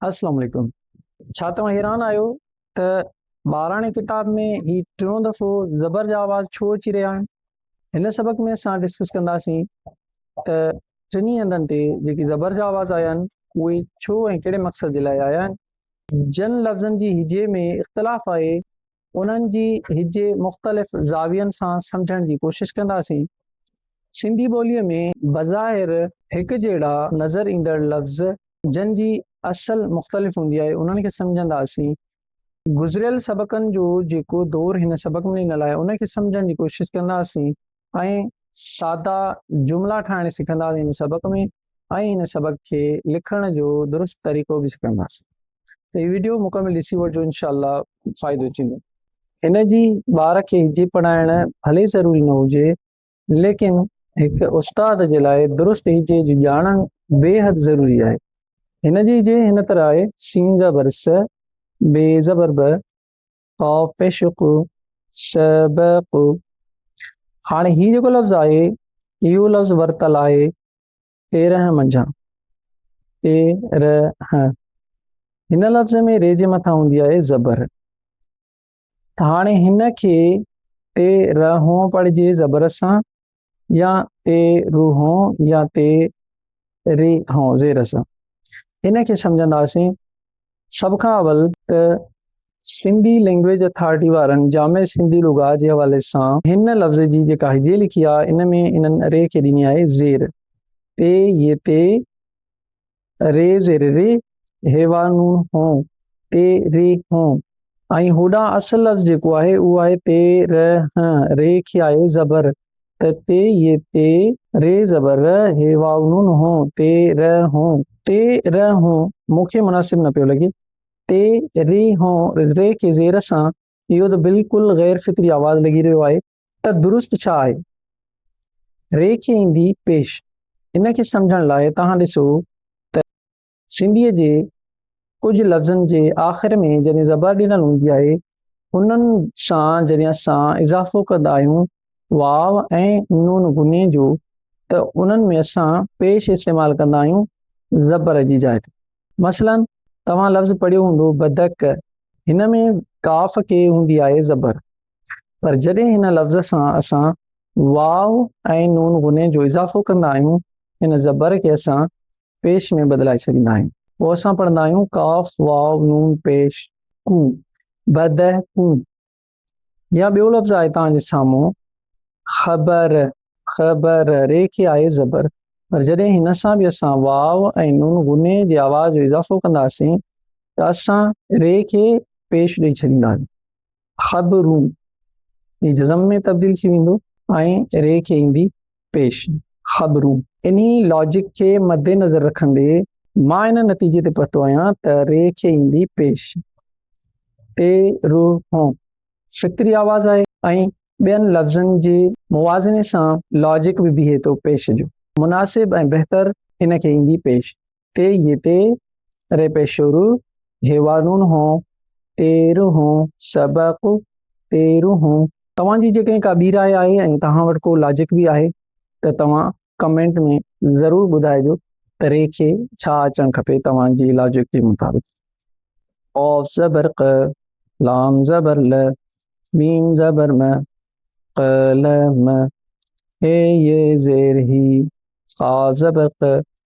السلام عليڪم ڇا توهان حيران آهيو ته ٻاراڻي ڪتاب ۾ هي ٽيون دفعو زبر جا آواز ڇو اچي رهيا آهن هن سبق ۾ اسان ڊسڪس ڪنداسين ته ٽنهي هنڌن تي جيڪي زبر جا آواز آيا آهن اهي ڇو ۽ ڪهڙي مقصد جي لاء آيا آهن جن لفظن جي هجي ۾ اختلاف آهي انهن جي هجي مختلف زاوين سان سمجهڻ جي ڪوشش ڪنداسين. سنڌي ٻوليء ۾ بظاهر هڪجهڙا نظر ايندڙ لفظ جن جي اصل مختلف هوندي آهي انهن کي سمجهنداسين. گذريل سبقن جو جيڪو دور هن سبق ۾ ڏنل آهي ان کي سمجهڻ جي ڪوشش ڪنداسين. ۽ سادا جملا ٺاهڻ سکنداسين هن سبق ۾ ۽ هن سبق کي لکڻ جو درست طريقو به سکنداسين ته هي ويڊيو مڪمل ڏسي وٺجو انشاء الله فائدو ٿيندو هن جي ٻار کي هجي پڙهائڻ ڀلي ضروري نه هجي ليڪن هڪ استاد جي لاء درست هجي جي ڄاڻڻ بيحد ضروري آهي هن جي هجي هن طرح آهي سين زبر س بي زبر ب عاشق سبق هاڻي هي جيڪو لفظ آهي اهو لفظ ورتل آهي تيرهن منجهان تيرهن هن لفظ ۾ ري جي مٿان هوندي آهي زبر هاڻي هن کي تيرهون پڙهجي زبر سان يا تي روح هون يا تي ري هون زير سان ان کي سمجهنداسين سڀ کان اول ته سنڌي لينگويج اٿارٽي وارن جامع سنڌي لغات جي حوالي سان هن لفظ جي جيڪا هجي لکي آهي ان ۾ انهن ري کي ڏني آهي زير تي يي تي ري زير ري هيوا نون هون تي ري هون ۽ هوڏانهن اصل لفظ جيڪو آهي اهو آهي تي ر هن ري کي آهي زبر ته تي يي تي ري زبر ر هيوا نون هون تي ر هون تي ر هون مون کي مناسب نه پيو لڳي تي ري هون ري کي زير سان اهو ته بلڪل غير فطري آواز لڳي رهيو آهي ته درست ڇا آهي؟ ري کي ايندي پيش. ان کي سمجهڻ لاء توهان ڏسو ته. سنڌيء جي ڪجهه لفظن جي آخر ۾ جڏهن زبر ڏنل هوندي آهي، انهن سان جڏهن اسان اضافو ڪندا آهيون واو ۽ نون غني جو ته انهن ۾ اسان پيش استعمال ڪندا آهيون زبر جي جاء تي. مثلاً توهان لفظ پڙهيو هوندو بدڪ، هن ۾ قاف کي هوندي آهي زبر، پر جڏهن هن لفظ سان اسان واء ۽ نون غني جو اضافو ڪندا آهيون، ان زبر کي اسان پيش ۾ بدلائي ڇڏيندا آهيون. پوء اسان پڙهندا آهيون قاف واء نون پيش ڪون، بدهڪون. يا ٻيو لفظ آهي توهان جي سامهون خبر خبر ر کي آهي زبر پر جڏهن هن سان به اسان واو ۽ نون غني جي آواز جو اضافو ڪنداسين ته اسان ر کي پيش ڏئي ڇڏينداسين خبرون هي جزم ۾ تبديل ٿي ويندو ۽ ر کي ايندي پيش خبرون. انهي لاجڪ کي مدنظر رکندي مان ان نتيجي تي پهتو آهيان ته ري کي ايندي پيش تي روح هون فطري آواز آهي ۽ ٻين لفظن جي موازني سان لاجڪ به بيهي ٿو پيش جو مناسب ۽ بهتر ان کي ايندي پيش تي يتي ري پيشورو هيوارون هو تيرو هو سبق تيرو هو توهان جي جيڪڏهن ڪا ٻي راء آهي ۽ توهان وٽ ڪو لاجڪ به آهي ته توهان ڪمينٽ ۾ ضرور ٻڌائجو ته ري کي ڇا اچڻ کپي توهان جي لاجڪ جي مطابق قاف زبر ق لام زبر ل ميم زبر م ق ل م هي ي زير هي قاف زبر ق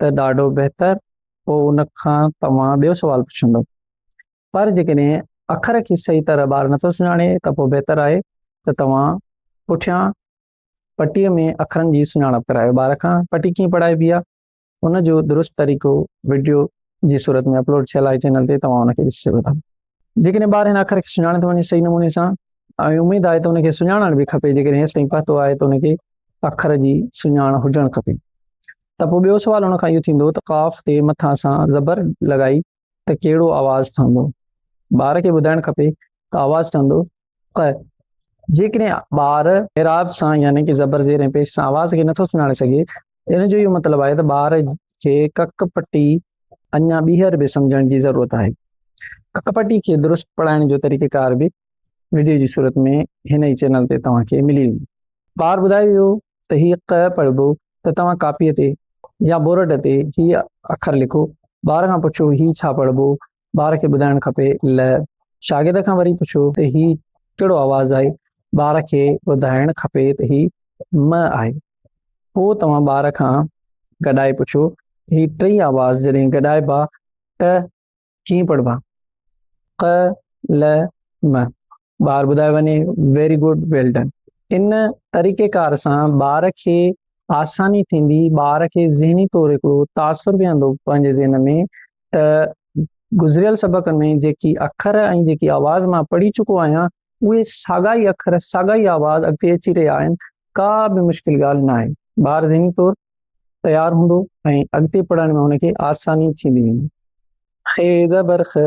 ته ڏاڍو بهتر پوء ان کان توهان ٻيو سوال پڇندو پر جيڪڏهن اکر کي صحيح طرح ٻار نٿو سڃاڻي ته پوء بهتر آهي ته توهان پٺيان پٽي ۾ اکرن جي سڃاڻپ ڪرايو ٻار کان پٽي ڪيئن پڙهائبي آهي ان جو درست طريقو وڊيو جي صورت ۾ اپلوڊ ٿيل آهي چينل تي توهان ان کي ڏسي سگهو ٿا جيڪڏهن ٻار هن اکر کي سڃاڻي ٿو وڃي صحيح نموني سان ۽ اميد آهي ته ان کي سڃاڻڻ به کپي جيڪڏهن هيس تائين پهتو آهي ته ان کي اکر جي سڃاڻ هجڻ کپي ته پوء ٻيو سوال ان کان اهو ٿيندو ته قاف تي مٿان سان زبر لڳائي ته ڪهڙو آواز ٺهندو ٻار کي ٻڌائڻ کپي ته آواز ٺهندو ق، جيڪڏهن ٻار اعراب سان يعني ڪه زبر زير ۽ پيش سان آواز کي نٿو سڃاڻي سگهي ته ان جو اهو مطلب آهي ته ٻار کي ڪڪ پٽي اڃا ٻيهر به سمجهڻ جي ضرورت آهي. ڪڪ پٽي کي درست پڙهائڻ جو طريقيڪار به وڊيو جي صورت ۾ هن ئي چينل تي توهان کي ملي ويندو. ٻار ٻڌايو ويو ته هي ق پڙهبو ته توهان ڪاپيء تي يا بورڊ تي هي اکر لکو. ٻار کان پڇو هي ڇا پڙهبو؟ ٻار کي ٻڌائڻ کپي ل شاگرد کان وري پڇيو ته هي ڪهڙو آواز آهي ٻار کي ٻڌائڻ کپي ته هي م آهي پوء توهان ٻار کان گڏائي پڇيو هي ٽئي آواز جڏهن گڏائبا ته ڪيئن پڙهبا ق ل م ٻار ٻڌايو وڃي ويري گڊ ويل ڊن ان طريقي ڪار سان ٻار کي آساني ٿيندي ٻار کي ذهني طور هڪڙو تاثر ويهندو پنهنجي ذهن ۾ ته گذريل سبقن ۾ جيڪي اکر ۽ جيڪي آواز مان پڙهي چڪو آهيان اهي ساڳا ئي اکر ساڳا ئي آواز اڳتي اچي رهيا آهن ڪا به مشڪل ڳالهه نه آهي ٻار ذهني طور تيار هوندو ۽ اڳتي پڙهڻ ۾ هن کي آساني ٿيندي ويندي خ زبر خ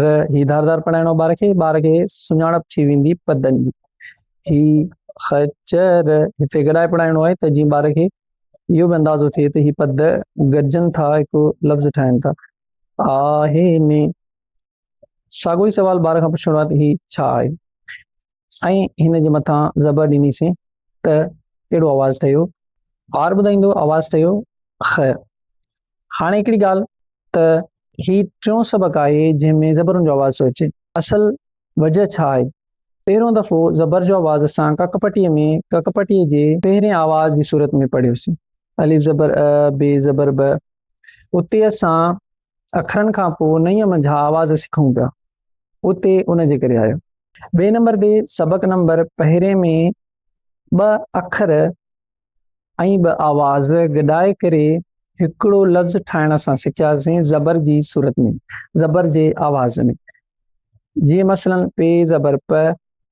ر هي ڌار ڌار پڙهائڻو ٻار کي ٻار کي سڃاڻپ ٿي ويندي پدن جي هي خ چ ر هتي گڏائي پڙهائڻو آهي ته جيئن ٻار کي اهو به اندازو ٿئي ته هي پد گڏجن ٿا هڪ لفظ ٺاهن ٿا آ هي ۾ ساڳو ئي سوال ٻار کان پڇڻو آهي ته هي ڇا آهي ۽ هن جي مٿان زبر ڏنيسين ته ڪهڙو آواز ٺهيو؟ ٻار ٻڌائيندو آواز ٺهيو خ. هاڻي هڪڙي ڳالهه ته هي ٽيون سبق آهي جنهن ۾ زبرن جو آواز ٿو اچي. اصل وجهه ڇا آهي؟ پهريون دفعو زبر جو آواز اسان ڪڪ پٽيء ۾ ڪڪ پٽيء جي پهرين آواز جي صورت ۾ پڙهيوسين، الف زبر ا، ب زبر ب. اتي اسان اکرن کان پوء نئينء منجهان آواز سکون پيا. اتي ان جي ڪري آيو. ٻئي نمبر تي سبق نمبر پهرين ۾ ٻه اکر ۽ ٻه آواز گڏائي ڪري هڪڙو لفظ ٺاهڻ اسان سکياسين زبر جي صورت ۾ زبر جي آواز ۾ جيئن مثلا پ زبر پ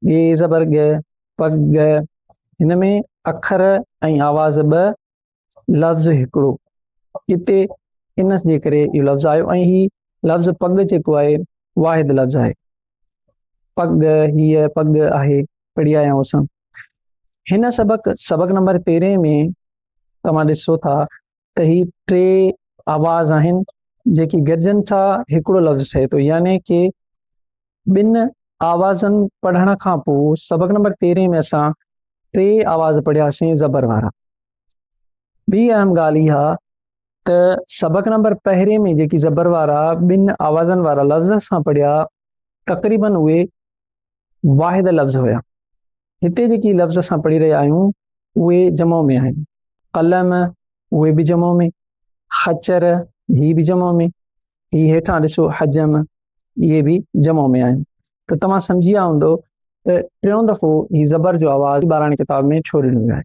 ڳ زبر ڳ پڳ هن ۾ اکر ۽ آواز ٻه لفظ هڪڙو هتي ان جي ڪري اهو لفظ آيو ۽ هي لفظ پڳ جيڪو آهي واحد لفظ آهي پڳ هيء پڳ آهي پڙهي آيا آهيون اسان هن سبق سبق نمبر تيرهن ۾ توهان ڏسو ٿا ته هي ٽي آواز آهن جيڪي گڏجن ٿا هڪڙو لفظ ٺهي ٿو يعني ڪي ٻن آوازن پڙهڻ کان پوء سبق نمبر تيرهين ۾ اسان ٽي آواز پڙهياسين زبر وارا ٻي اهم ڳالهه اها ته سبق نمبر پهرين ۾ جيڪي زبر وارا ٻن آوازن وارا لفظ اسان پڙهيا تقريبن اهي واحد لفظ هيا هتي جيڪي لفظ اسان پڙهي رهيا آهيون اهي جمع ۾ آهن قلم اهي به جمع ۾ خچر هي به جمع ۾ هي هيٺان ڏسو حجم اهي به جمع ۾ آهن ته توهان سمجهي ويا هوندو ته ٽيون دفعو هي زبر جو آواز ٻاراڻي ڪتاب ۾ ڇو ڏنو ويو آهي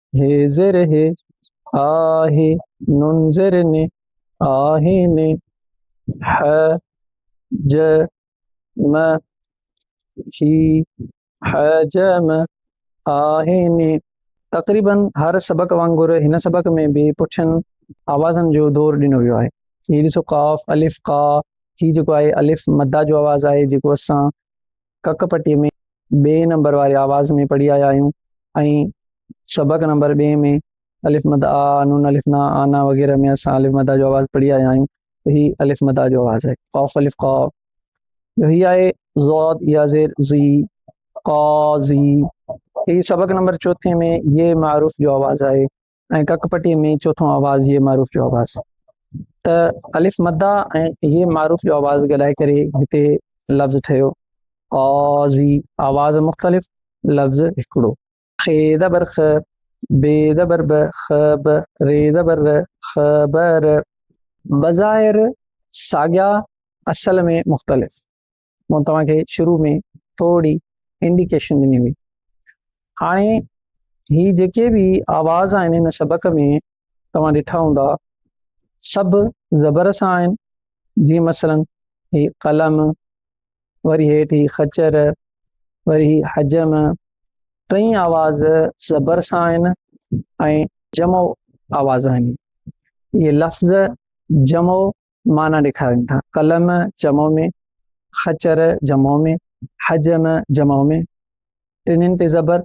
هي زر هي آهي نون زر ني آهي ني ح ج م هي ح ج م آهي ني تقريباً هر سبق وانگر هن سبق ۾ به پٺين آوازن جو دور ڏنو ويو آهي هي ڏسو قاف الف قا هي جيڪو آهي الف مدا جو آواز آهي جيڪو اسان ڪڪ پٽي ۾ ٻئي نمبر واري آواز ۾ پڙهي آيا آهيون ۽ سبق نمبر ٻئي ۾ الف مد آ، نون الف نا، آ نا وغيره ۾ اسان الف مد آ جو آواز پڙهي آيا آهيون ته هي الف مد آ جو آواز آهي قاف الف قا جو هي آهي ضاد يا زير ضي قاضي هي سبق نمبر چوٿين ۾ ي معروف جو آواز آهي ۽ ڪڪ پٽي ۾ چوٿون آواز هي معروف جو آواز ته الف مدا ۽ هي معروف جو آواز گڏائي ڪري هتي لفظ ٺهيو آزي آواز مختلف لفظ هڪڙو خي زبر خ بي زبر ب خ ب ري زبر ر خ ب ر بظاهر ساڳيا اصل ۾ مختلف مون توهان کي شروع ۾ ٿورڙي انڊيڪيشن ڏني هئي هاڻي هي جيڪي به آواز آهن هن سبق ۾ توهان ڏٺا هوندا سڀ زبر سان آهن جيئن مثلا هي قلم وري هيٺ هي خچر وري هي حجم ٽئي آواز زبر سان آهن ۽ جمع آواز آهن هي لفظ جمع معنيٰ ڏيکارين ٿا، قلم جمع ۾، خچر جمع ۾، حجم جمع ۾، ٽنهن تي زبر،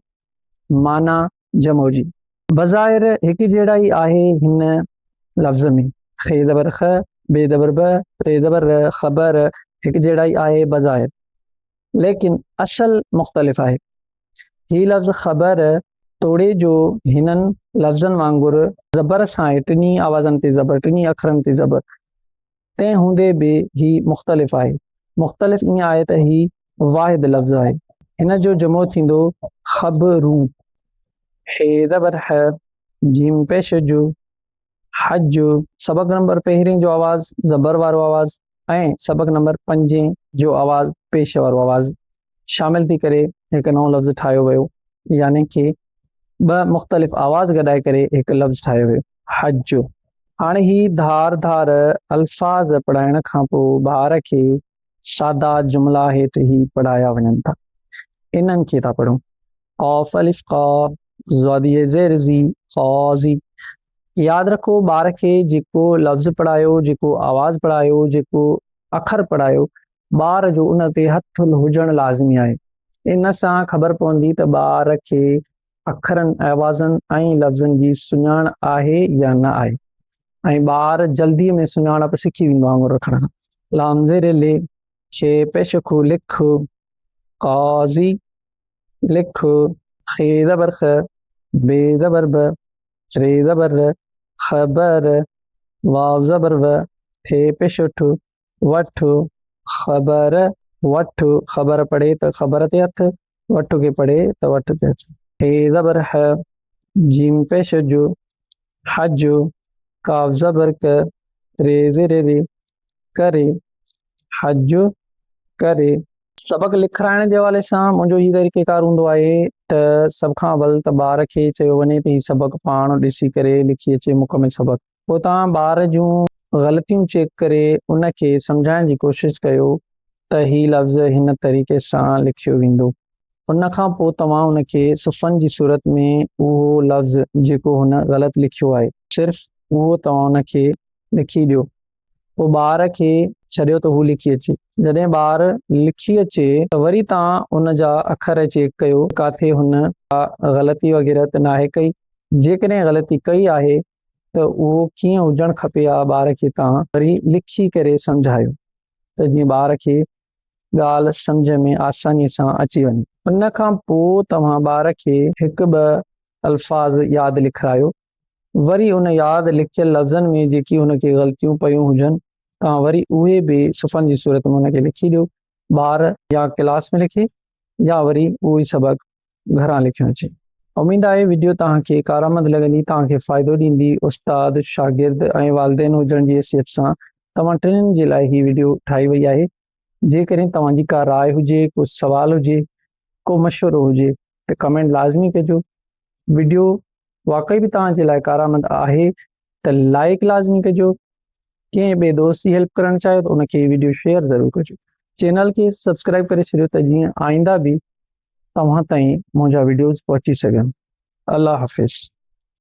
معنيٰ جمع جي. بظاهر هڪجهڙائي آهي هن لفظ ۾، خ زبر خ، ب زبر ب، ر زبر ر، خ ب ر، هڪجهڙائي آهي بظاهر، ليڪن اصل مختلف آهي. هي لفظ خبر توڙي جو هنن لفظن وانگر زبر سان آهي، ٽنهي آوازن تي زبر، ٽنهي اکرن تي زبر، تنهن هوندي به هي مختلف آهي. مختلف ائين آهي ته هي واحد لفظ آهي. هن جو جمع ٿيندو خبرون. ح زبر ح، جيم پيش جو. حج، سبق نمبر پهرين جو آواز زبر وارو آواز ۽ سبق نمبر پنجين جو آواز پيش وارو آواز شامل ٿي ڪري هڪ نئون لفظ ٺاهيو ويو يعني ڪي ٻه مختلف آواز گڏائي ڪري هڪ لفظ ٺاهيو ويو حج هاڻي هي ڌار ڌار الفاظ پڙهائڻ کان پوء ٻار کي سادا جملا هيٺ هي پڙهايا وڃن ٿا. انهن کي ٿا پڙهون. قاف الف قا، زدي زير زي، قاضي. ياد رکو ٻار کي جيڪو لفظ پڙهايو، جيڪو آواز پڙهايو، جيڪو اکر پڙهايو، ٻار جو ان تي هٿ هجڻ لازمي آهي. ان سان خبر پوندي ته ٻار کي اکرن، آوازن ۽ لفظن جي سڃاڻ آهي يا نه آهي ۽ ٻار جلدي ۾ سڃاڻپ سکي ويندو آڱر رکڻ سان. لانزر لي، شي پيش خو لک خو، قاضي لک خو. خ زبر خ، ب زبر ب، ر زبر ر، خبر. واو زبر و، ٺي پيش ٺو، وٺ خبر وٺ خبر پڙهي ته خبر تي هٿ، وٺ کي پڙهي ته وٺ تي هٿ. ح زبر ح، جيم پيش جو، حج، قاف زبر ق، ري زير ري، ڪري، حج ڪري. سبق لکرائڻ جي حوالي سان منهنجو هي طريقه ڪار هوندو آهي ته سڀ کان اول ته ٻار کي چيو وڃي ته هي سبق پاڻ ڏسي ڪري لکي اچي مڪمل سبق. پوء توهان ٻار جون غلطيون چيڪ ڪري ان کي سمجهائڻ جي ڪوشش ڪيو ته هي لفظ هن طريقي سان لکيو ويندو. ان کان پوء توهان ان کي صفحن جي صورت ۾ اهو لفظ جيڪو هن غلط لکيو آهي صرف اهو توهان ان کي لکي ڏيو پوء ٻار کي ڇڏيو ته هو لکي اچي. جڏهن ٻار لکي اچي ته وري توهان ان جا اکر چيڪ ڪيو ته ڪاٿي هن ڪا غلطي وغيره ته ناهي ڪئي. جيڪڏهن غلطي ڪئي آهي ته اهو ڪيئن هجڻ کپي ها ٻار کي توهان وري لکي ڪري سمجهايو ته جيئن ٻار کي ڳالهه سمجهه ۾ آساني سان اچي وڃي. ان کان پوء توهان ٻار کي هڪ ٻه الفاظ ياد لکرايو وري ان ياد لکيل لفظن ۾ جيڪي هن کي غلطيون پيون هجن توهان وري اهي به صفحن جي صورت ۾ هن کي لکي ڏيو ٻار يا ڪلاس ۾ لکي يا وري اهو ئي سبق گهران لکيو اچي. اميد آهي وڊيو توهان کي ڪارآمد لڳندي توهان کي فائدو ڏيندي استاد، شاگرد ۽ والدين هجڻ جي حيثيت سان توهان ٽنهن جي لاء هي وڊيو ٺاهي وئي آهي جيڪڏهن توهان جي ڪا راء هجي ڪو سوال هجي ڪو مشورو هجي ته ڪمينٽ لازمي ڪجو ويڊيو واقعي به توهان جي لاء ڪارآمد آهي ته لائيڪ لازمي ڪجو ڪنهن ٻئي دوست جي هيلپ ڪرڻ چاهيو ته ان کي هي ويڊيو شيئر ضرور ڪجو چينل کي سبسڪرائب ڪري ڇڏيو ته جيئن آئنده به توهان تائين منهنجا ويڊيوز پهچي سگهن الله حافظ